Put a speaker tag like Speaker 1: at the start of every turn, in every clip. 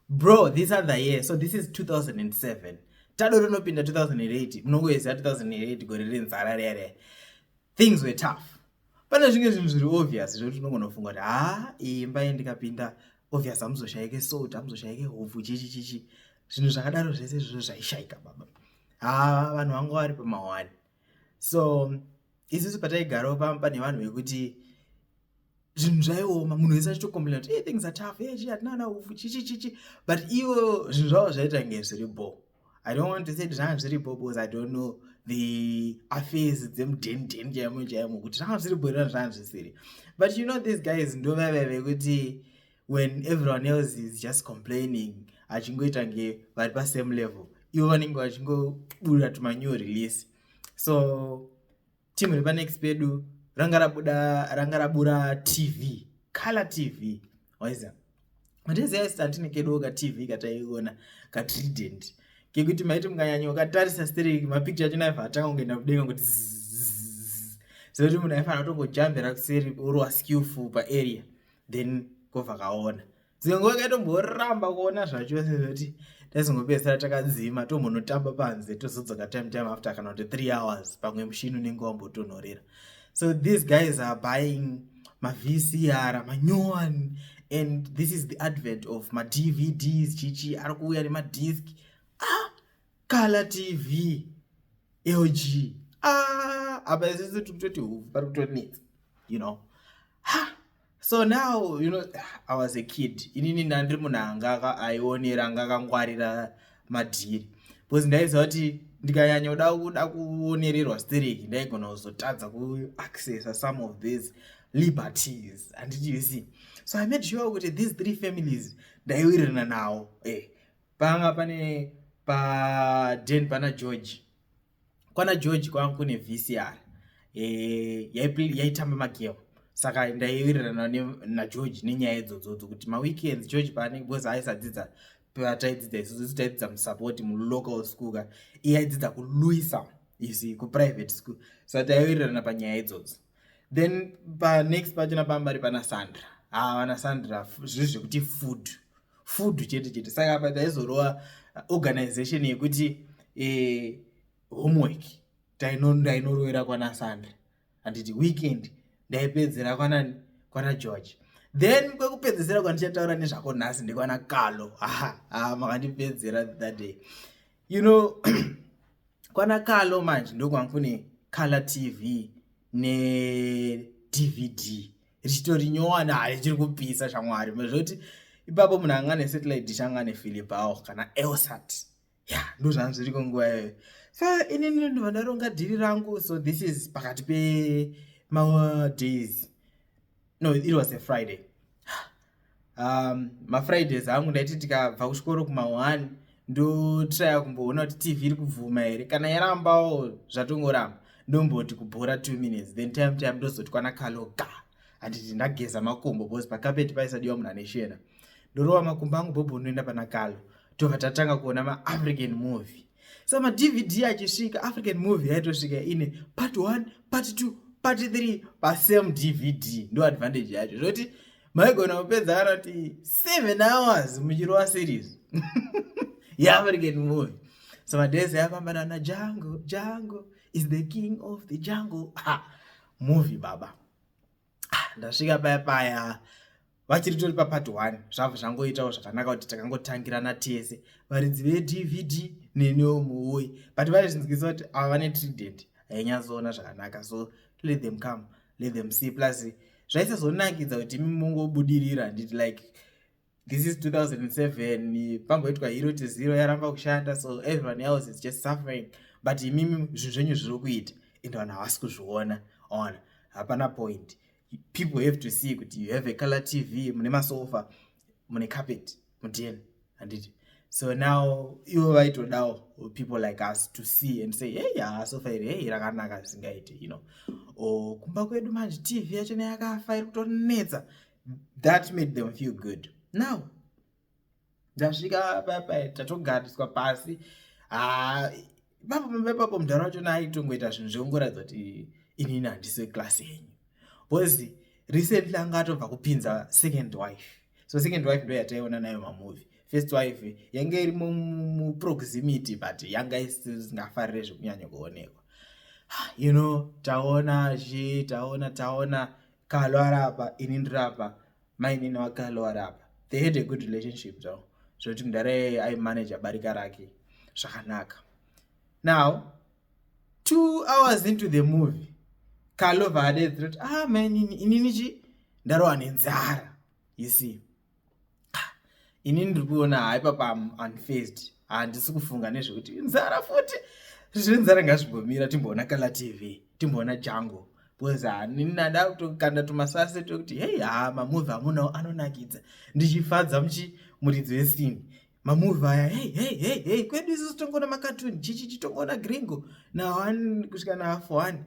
Speaker 1: bro this other year so this is 2007 tado rinopinda 2008 munongoyeza 2008 gore renzara riya riya things were tough pane zvinge zvinhu zviri obvious zvekuti unongonofunga kuti haa imba ye ndikapinda obvious hamuzoshayike salt hamuzoshayike hobvu chichi chichi zvinhu zvakadaro zvese zvizvo zvaishayika baba haa vanhu vanga vari pamawani so isusu pataigarawo pamba pane vanhu vekuti zvinhu zvaioma munhu wese achitokomplaina kuti hey, things are tough hey, chi hatina ana ufu chichichichi but ivo zvinhu zvavo zvaita nge zviri bo i don't want to say kuti zvanga zviri bo because i don't know the affairs dzemudendeni chaimo chaimo kuti zvanga zviri bo irona zvanga zvisiri but you know these guys ndovaive vekuti when everyone else is just complaining achingoita nge vari pasame level ivo vanenge vachingobuda tuma new release so team repanext pedu ranga rabuda ranga rabura tv color tv waiza mateziyaistatine kedoka tv kataiona katrident kekuti maiti mukanyanya ukatarisa stereki mapicture achona aiva atanga kungoenda kudenga kuti zekuti munhu aifanira kutongojambira kuseri orwa skillful paarea then kobva kaona dzingwe kaitomboramba kuona zvachose zvekuti taizongopedzisira takadzima tombonotamba panze tozodzoka time time after kana kuti three hours pamwe mushini unenge wambotonhorera so these guys are buying mavcr manyowani and this is the advent of madvds chichi ari kuuya nemadisk ah Kala TV LG ah apa isisi tiri kutoti huvhu pari kutonetsa you know ha so now you know i was a kid inini ndandiri munhu anga aionera anga akangwarira madhiri because ndaiziva kuti ndikanyanya kuda kuda kuonererwa stereki ndaigona kuzotadza kuaccessa some of these liberties handiti you see so i made sure kuti these three families ndaiwirirana nawo e eh. panga pane paden pana george kwana george kwanga kune vcr e, yaitamba magame saka ndaiwirirana nageorge nenyaya idzodzodzo kuti maweekends george paanenge bcause aisadzidza pataidzidza isusu taidzidza musupport mulocal school ka iye aidzidza kuluisa isi kuprivate school saka taiwirirana panyaya idzodzo then panext pachona pambari pana sandra haa ah, vana sandra zviri zvekuti food ah, food chete chete saka apa taizorova organization yekuti eh, homework ndainorovera kwana sandra handiti weekend ndaipedzera kwanani kwana george then kwekupedzesera kwandichataura nezvako nhasi ndekwana kalo haa makandipedzera that day you know kwana kalo manje ndokwanga kune color tv nedvd richitori nyowani hai chiri kupisa shamwari zvekuti ipapo munhu anga nesatellite dish anga nefilipawo kana elsat ya ndozvanga zviriko nguva iyoyo so inini ndovandaronga dhiri rangu so this is pakati pemadays no it was a friday um, mafridays angu ndaiti tikabva kuchikoro kuma1 ndotraya kumboona kuti tv iri kubvuma here kana yarambawo zvatongoramba ndomboti kubhora two minutes then time time ndozoti kwana kalo ga handiti ndageza makumbo bcause pakapeti paisadiwa munhu ane shena ndorova makumbo angu bhobho ndoenda pana kalo tobva tatanga kuona maafrican movie so madvd achisvika african movie yaitosvika ine part 1 part 2 part 3 pasame dvd ndo advantage yacho zvoti maigona kupedza kana kuti 7 hours muchirova series yeafrican movie so madese yafamba nana jango jango is the king of the jungle ha movie baba ah, ndasvika paya paya vachiri tori papart one zvabva zvangoitawo zvakanaka kuti takangotangirana tese varidzi vedvd neniwo muwoyi but vaizvinzwisa kuti ava vane trident hainyatsoona zvakanaka so let them come let them see plus zvaisazonakidza kuti mungobudirira handiti like this is 2007 pamboitwa hero to zero yaramba kushanda so everyone else is just suffering but imimi zvinhu zvenyu zviri kuita ende vanhu havasi kuzviona ona hapana point people have to see kuti you have a color tv mune masofa mune carpet mudn handiti so now ivo vaitodawo people like us to see and say hey haa sofa iri hey rakanaka zvisingaite you know or kumba kwedu manje tv yacho neyakafa iri kutonetsa that made them feel good now ndasvika papa tatogariswa pasi ah, ipapo mumba ipapo mudhara wacho naayitongoita zvinhu zvekungoratidza kuti inini handisi weklasi yenyu bcause recently anga atobva kupinza second wife so second wife ndo yataiona nayo mamovie first wife yange iri muproximity but yanga isingafarire zvekunyanya kuonekwa ah, you know taona zvi taona taona kalwara apa ini ndiri apa mainini wake alwara apa they had a good relationship zvavo zvekuti mudhara iyeye aimanaja barika rake zvakanaka now two hours into the movie kalova adedzirati ah mainini inini chi ndarowa nenzara you see ini ndiri kuona haa ipapa am unfaced handisi kufunga nezvekuti inzara futi zvenzara ngazvimbomira timboona kala tv timboona jango bcause hani nada kutokanda tumasase tokuti hei haa mamuvi amunawo anonakidza ndichifadza muchi muridzi wesini mamuvi aya hei hei hei hei kwedu isusu tongoona makatuni chichi chitongoona gringo nahani kusvika naafo hani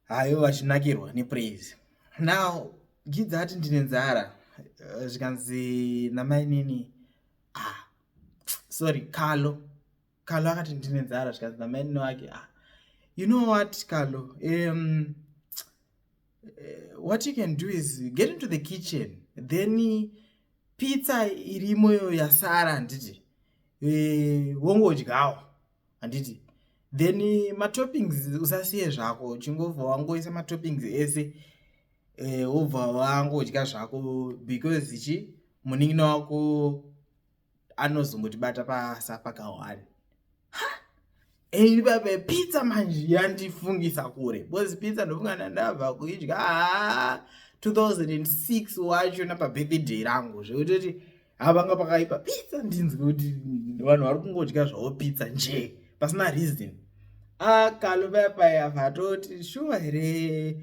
Speaker 1: hayo vachinakirwa nepraise now gidza ati ndine nzara eh, zvikanzi namainini ah sorry kalo kalo akati ndine nzara zvikanzi namainini wake ah you know what kalo um, eh, what you can do is get into the kitchen then pizza irimoyo yasara handiti eh, wongodyawo handiti then matoppings usasiye zvako uchingobva wangoisa matoppings ese eh, wobva uh, wangodya zvako because chi munin'ina wako anozongotibata pasa pakawani ipape pizza manje yandifungisa kure because pizza ndofunga ndandabva kuidya 2006 wacho napabirthday rangu zvekutoti ha vanga pakaipa pizza ndinzwe kuti vanhu vari kungodya zvavo pizza njee pasina reason akaluvepayav atoti shuwa here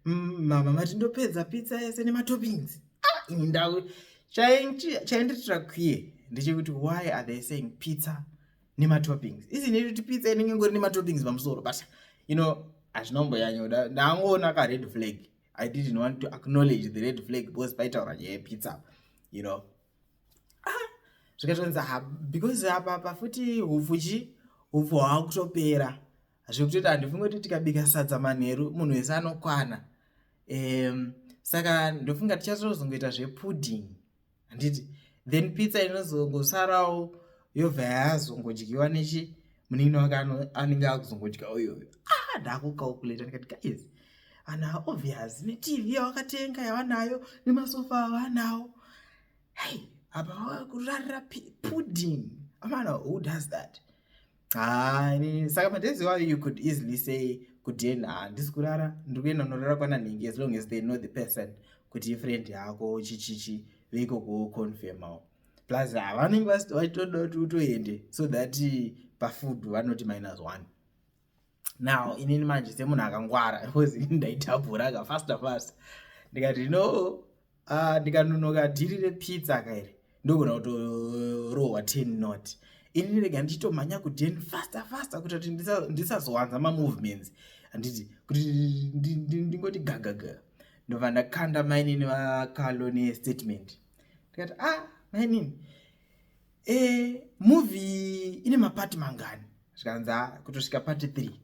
Speaker 1: mm, mama mati ndopedza pitsa yese nematoppings ah, ini ndau chainditira kwiye ndechekuti why are they saying pitsa nematoppings isini kuti pitsa inenge ngori nematoppings pamusoro but you know hazvinomboyanyoda ndangoona kared flag i didn't want to acknowledge the red flag because paitaura nyaya yepizza you know ah, zvikatonzi ah, because apa apa futi hupfu chi hupfu hwava kutopera zvekutoita handifunge kuti tikabika sadza manheru munhu wese anokwana um, saka ndofunga tichatozongoita zvepudding handiti then pizza inozongosarawo yobva yazongodyiwa nechi munin'ina wake anenge akuzongodya uyoyo ah ndakucalculata ndikati guys ana obvious netv yawakatenga yavanayo nemasofa avanawo hei apa kurarira pudding amana who does that haa ini saka madhezi wayo you could easily say kuti yena handisi kurara ndiri kuenda unorara kwana nhingi as long as they know the person kuti ifriend yako chichichi veiko kuconfirmawo plus havanenge vachitoda kuti utoende so that pafood vanoti minus one now inini manje semunhu akangwara bcause ndaitapuraka faster fast ndikati no ah, ndikanonoka dhiri repizza kairi ndogona kutorohwa ten not ini ndirega ndichitomhanya kuden faster faster kuita kuti ndisazowanza mamovements handiti kuti ndingoti gagaga ndobva ndakanda mainini vakalo nestatement ndikati a ah, mainini e eh, movie ine mapati mangani zvikanzi a ah, kutosvika pati three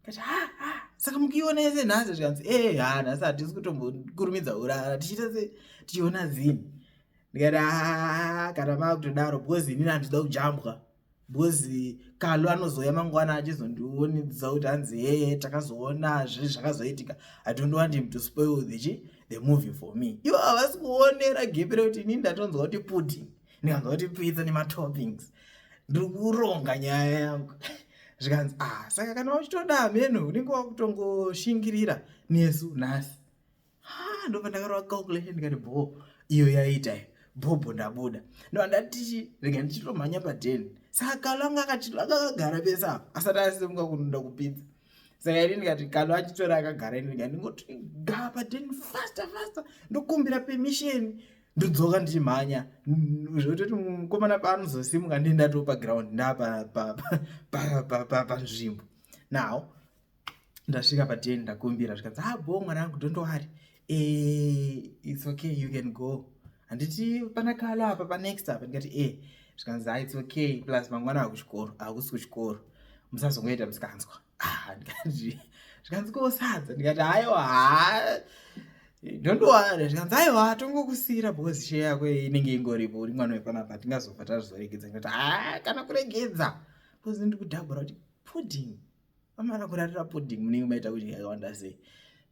Speaker 1: kati ha ha saka mukiona yese nhasi zvikanzi ee eh, ha nhasi hatisi kutombokurumidza urara tichiita se tichiona zini ndikati haa kana maakutodaro because inini handida kujambwa because kalu anozouya mangwana achizondionidza kuti hanzi hee takazoona zve zvakazoitika i don't want him to spoil the, the movie for me ivo havasi kuonera gepi rekuti inini ndatonzwa kuti pudding ndikanzwa kuti pizza nematoppings ndiri kuronga nyaya yangu zvikanzi ah saka kana uchitoda hameno unenge wakutongoshingirira nesu nhasi ha ndobva ndakarova calculation ndikati bho iyo yaiita iyo bhobho ndabuda ndova ndatichi rega ndichitomhanya padeni saka kalo anga akagara pese apo asati asimuka kunoda kupinza saka ini ndikati kalo achitora akagara ini ndikati ndingoti ga padeni faster faster ndokumbira permission ndodzoka ndichimhanya zvototi mukomana paanozosimuka ndii ndatoo paground ndaapanzvimbo now ndasvika paten ndakumbira zvikanzi ha ah, bo mwana angu don't worry eh, its okay you can go handiti pana kalo apa panext apa ndikati e eh. zvikanzi ha ah, its okay plus mangwana akuchikoro akusi kuchikoro musazongoita musikanzwa ah, zvikanzi ko sadza ndikati aiwa haa don't worry zvikanzi aiwa tongokusiira because share yako inenge ingoripo uri mwana wepanapa tingazofa tazvizoregedza ndikati haa ah, kana kuregedza because ndikudhabhura kuti pudding vamana kurarira pudding munenge maita kudya yakawanda sei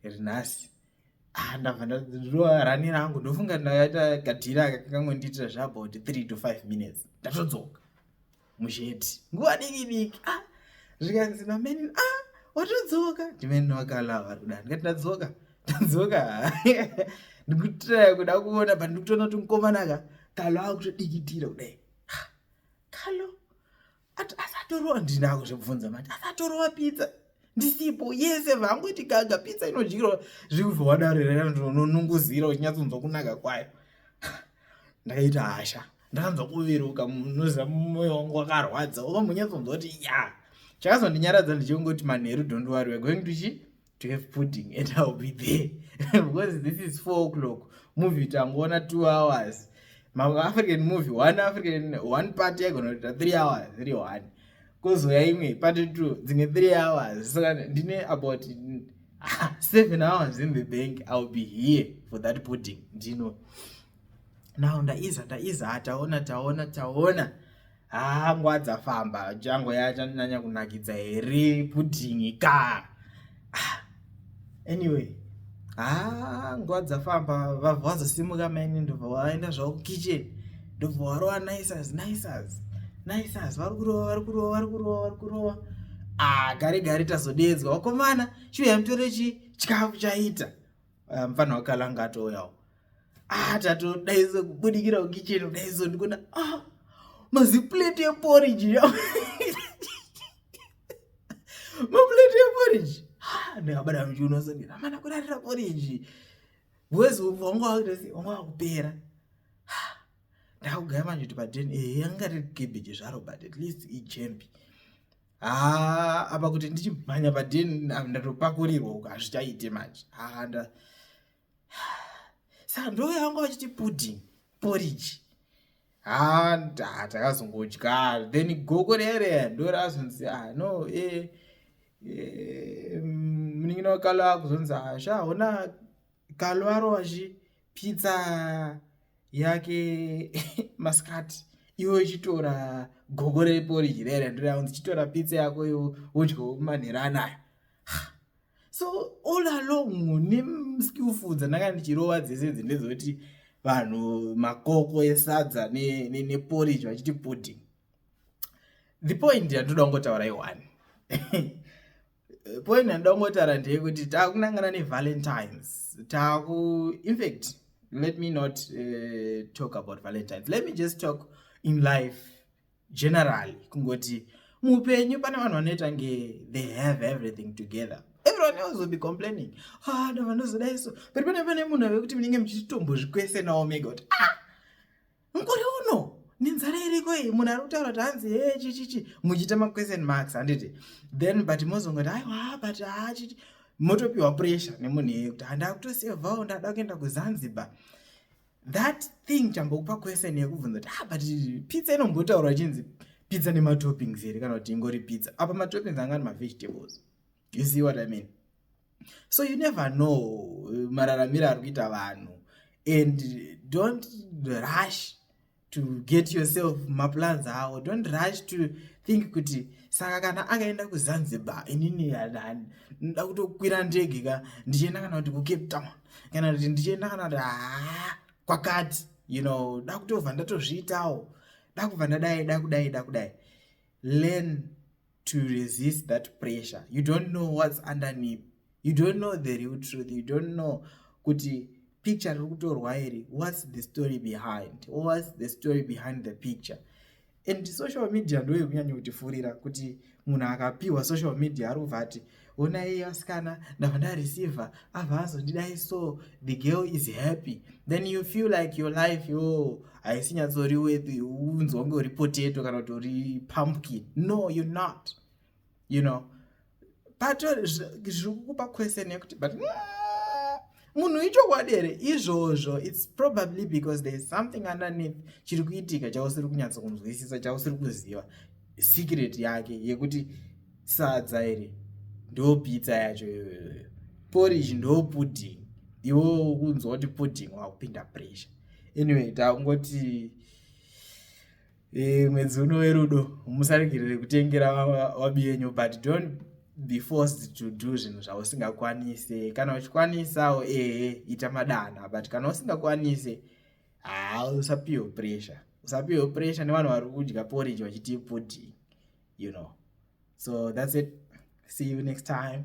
Speaker 1: ndikati nhasi ah, ndabva ndadrowa rani rangu ndofunga ndakaita kadhira kakangondiitira zveabout three to five minutes ndatodzoka musheti nguva diki diki ah zvikanzi mameni ah watodzoka ndimene wakalawa ruda ndikati ndadzoka ndadzoka ndikutiraya kuda kuona but ndikutoona kuti mukomana ka kalo akutodikitira kudai kalo asatorowa ndinako zvekubvunza mati asatorowa pizza ndisipo yese vangoti gaga pizza inodyirwa zvekuzowadarerera ndinonongozira uchinyatsonzwa kunaka kwayo ndakaita hasha ndakanzwa kuviruka munoziva mumwoyo wangu wakarwadza ova munyatsonzwa kuti ya chakazondinyaradza ndichingoti manheru don't worry we're going to chi to have pudding and ill be there because this is four o'clock movie tangoona two hours maafrican movie one african one part yaigona kuita three hours iri one kozouya imwe party two dzimwe three hours saka ndine about ah, seven hours in the bank ill be here for that pudding ndino now ndaiza ndaiza ah, taona taona taona haa ah, nguva dzafamba jango yachandinyanya kunakidza here pudhingi ka ah, anyway haa nguva dzafamba vabva wazosimuka maini ndobva waenda zvavo kukitchen ndobva warova nicers nicers nicers vari kurova vari kurova vari kurova vari kurova ah gare gare tazodeedzwa wakomana shuya mutore chi chikafu chaita ah, mfana wakalanga atouyawo ah, tatodaizo kubudikira kukicheni kudaizo ndikuona ah, maziplate eporiji ya maplate eporiji ndikabada muchiuno soni amana kurarira poriji bcause wanga wakutasi wanga wakupera ndakugaya manje kuti paden e eh, yanga riri cabbage zvaro but at least ijembi haa apa kuti ndichimhanya paden ndatopakurirwa uko hazvichaite manje haa nda saka ndouya vanga vachiti pudding poriji haa takazongodya then gogo reereya ndorazonzi ah no e munin'ina wakalo akuzonzi ah sha hona kalo arowachi pizza yake masikati iwe uchitora gogo reporiji rere ndiraunzi chitora pizza yako iwo wodyawo manhera anayo so all along nemskillful dzandanga ndichirova dzese dzi ndedzoti vanhu makoko esadza neporiji ne, ne vachiti pudding the point yandinoda kungotaura iwani eh, point yandida kungotaura ndeyekuti taakunangana nevalentines taaku infact let me not uh, talk about valentines let me just talk in life generally kungoti muupenyu pane vanhu vanoita nge they have everything together everyone else will be complaining ah no vanozoda iso but pane pane munhu ave kuti munenge muchitombozvikwese nawo mega kuti ah mukore uno nenzara iriko iyi munhu ari kutaura kuti hanzi he chichichi muchiita maquestion marks handiti then but mozongoti aiwa but hachiti motopiwa pressure nemunhu iyeye kuti handakutosevhawo ndada kuenda kuzanzibar that thing chambokupa question yekubvunza kuti ah but pizza inombotaurwa chinzi pizza nematoppings here kana kuti ingori pizza apa matoppings angani mavegetables you see what i mean so you never know eh, mararamiro ari kuita vanhu and don't rush to get yourself maplans awo don't rush to think kuti saka kana akaenda kuzanzibar inini nda kutokwira ndege ka ndichienda kana kuti kucape town kana kuti ndichienda kana kuti haa kwakati you know da kutobva ndatozviitawo da kubva ndadai da kudai da kudai learn to resist that pressure you don't know what's underneath you don't know the real truth you don't know kuti picture riri kutorwa iri what's the story behind what's the story behind the picture and social media ndoyo kunyanya kutifurira kuti munhu akapiwa social media ari kubva ati ona iye asikana ndava ndareceiver ava azondidai so the girl is happy then you feel like your life yo haisi nyatsori wethi unzi wange uri potato kana kuti uri pumpkin no you not you know pato zviri kukupa question yekuti but mm, munhu ichokwadi here izvozvo its probably because there is something underneath chiri kuitika chausiri kunyatsa kunzwisisa chausiri kuziva secret yake yekuti sadza iri ndo pizza yacho iyoyoyo porridge ndo pudding iwo kunzwa kuti pudding wakupinda pressure anyway takungoti e, mwedzi uno werudo musaregerere kutengera wabi yenyu but don't be forced to do zvinhu zvausingakwanise kana uchikwanisawo ehe ita madana but kana usingakwanise haa usapiwe pressure usapiwe pressure nevanhu vari kudya porridge vachiti pudding you know so that's it see you next time